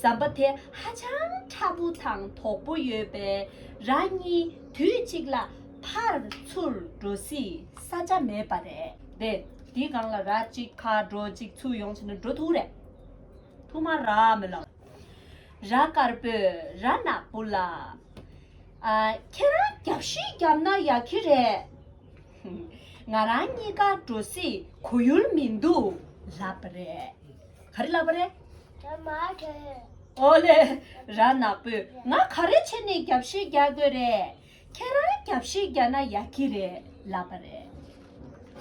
ཟམ་པ་དེ་ཧ་ཅང་ཕྲ་པོ་དང་དོག་པོ་ཡོད་པས་རང་གཉིས་དུས་གཅིག་ལ་ཕར་ཚུར་འགྲོ་སྲིད་ས་ཆ་མེད་པ་རེད་དེ། དེའི་སྒང་ལ་ར་གཅིག་ཕར་འགྲོ་གཅིག་ཚུར་ཡོང་བྱས་ན་འགྲོ་ཐུག་རེད། ཐུག་མ་ར་མི་ལ། ར་དཀར་པོས་ར་ནག་པོ་ལ། ཨ། ཁྱེད་རང་རྒྱབ་བཞི་བརྒྱབ་ན་ཡག་གི་རེད། ང་རང་གཉིས་ཀ་འགྲོ་སྲིད་གོ་ཡུལ་མི་འདུག་ལབ་པ་རེད། ག་རེ་ལབ་པ་རེད། ར་མ་རེད། ཨོ་ལེ། ར་ནག་པོས་ང་ག་རེ་བྱས་ནས་རྒྱབ་བཤད་རྒྱག་དགོས་རེད། ཁྱེད་རང་རྒྱབ་བཤད་རྒྱག་ན་ཡག་གི་རེད་ལབ་པ་རེད།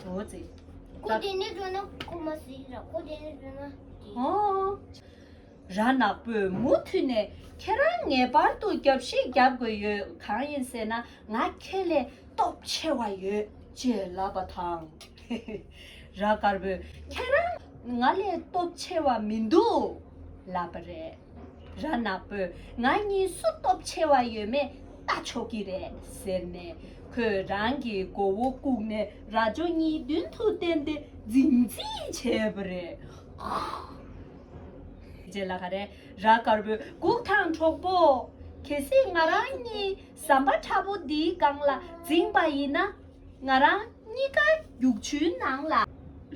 ཨོ་ཙི། ཀོ་དེ་ནས་བཟོས་ན་ཀོ་མ་སྲིད་ར་ཀོ་དེ་ནས་བཟོས་ན། ཨོ། ར་ནག་པོས་མུ་མཐུད་ནས་ཁྱེད་རང་ངེས་པར་དུ་རྒྱབ་བཤད་རྒྱག་དགོས་ཡོད་གང་ཡིན་ཟེར་ན་ང་ཁྱེད་ལས་སྟོབས་ཆེ་བ་ཡོད་ཅེས་ལབ་པ་དང། ར་དཀར་པོས་ཁྱེད་རང་ང་ལས་སྟོབས་ཆེ་བ་མི་འདུག་ལབ་པ་རེད། ར་ནག་པོས་ང་གཉིས་སུ་སྟོབས་ཆེ་བ་ཡོད་མེད་ལྟ་ཆོག་གི་རེད་ཟེར་ནས་ཁོས་རང་གི་མགོ་བོ་བཀུག་ནས་ར་ཇོ་གཉིས་མདུན་དུ་བསྟན་ཏེ་རྫིག་རྫིག་བྱས་པ་རེད། རྗེས་ལ་ག་རེད་ར་དཀར་པོས་སྒུག་དང་གྲོགས་པོ། གལ་སྲིད་ང་རང་གཉིས་ཟམ་པ་ཁྲ་པོ་འདིའི་སྒང་ལ་འཛིངས་པ་ཡིན་ན། ང་རང་གཉིས་ཀ་རྒྱུག་ཆུའི་ནང་ལ་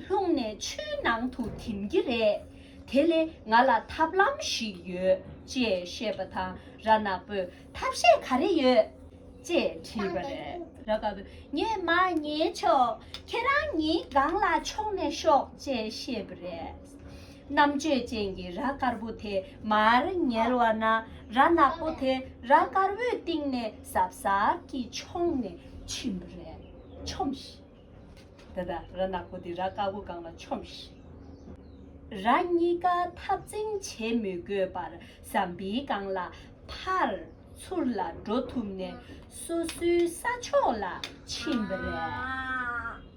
ལྷུང་ནས་ཆུའི་ནང་དུ་འཐིམ་གྱི་རེད། དེ་ལས་ང་ལ་ཐབས་ལམ་ཞིག་ཡོད་ཅེས་བཤད་པ་དང་ར་ནག་པོས་ཐབས་ཤེས་ག་རེ་ཡོད། ཅེས་དྲིས་པར། ར་ནག་པོས་ངས་མ་ཉལ་ཆོག་ཁྱེད་རང་གཉིས་སྒང་ལ་མཆོངས་ནས་ཤོག་ཅེས་བཤད་པ་རེད། རྣམ་དཔྱོད་ཅན་གྱི་རྭ་དཀར་པོ་དེ་མར་ཉལ་བ་ན་རྭ་ནག་པོ་དེ་རྭ་དཀར་བོའི་སྟེང་ནས་ཟབ་ཟབ་ཀྱིས་མཆོངས་ནས་ཕྱིན་པ་རེད། ཆོམས་ཤིག། ད་ལྟ་རྭ་ནག་པོ་དེ་རྭ་དཀར་བོ་སྒང་ལ་ཆོམས་ཤིག། རྭ་གཉིས་ཀ་འཐབ་འཛིང་བྱེད་མི་དགོས་པར་ཟམ་པའི་སྒང་ལ་ཕར་ཚུར་ལ་འགྲོ་ཐུབ་ནས་སོ་སོའི་ས་ཕྱོགས་ལ་ཕྱིན་པ་རེད།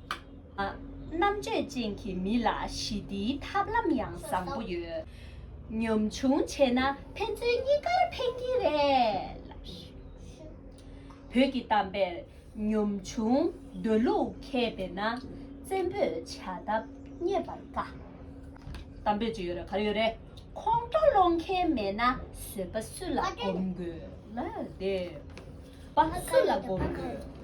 རྣམ་དཔྱོད་ཅན་གྱི་མི་ལ་ཞི་བདེའི་ཐབས་ལམ་ཡང་བཟང་པོ་ཡོད། ཉམ་ཆུང་བྱས་ན་ཕན་ཚུན་གཉིས་ཀར་ཕན་གྱི་རེད། བོད་ཀྱི་གཏམ་དཔེར་ཉམ་ཆུང་འདོད་ལུགས་མཁས་པས་ན་བཙན་པོས་བྱ་ཐབས་རྙེད་པར་དཀའ། གཏམ་དཔེ་ཅི་ཡོད་རེད་ག་རེ་ཡོད་རེད་ཁོང་ཁྲོ་སློང་མཁན་མེད་ན་བཟོད་པ་སུ་ལ་སྒོམ་དགོས། སུ་ལ་སྒོམ་དགོས།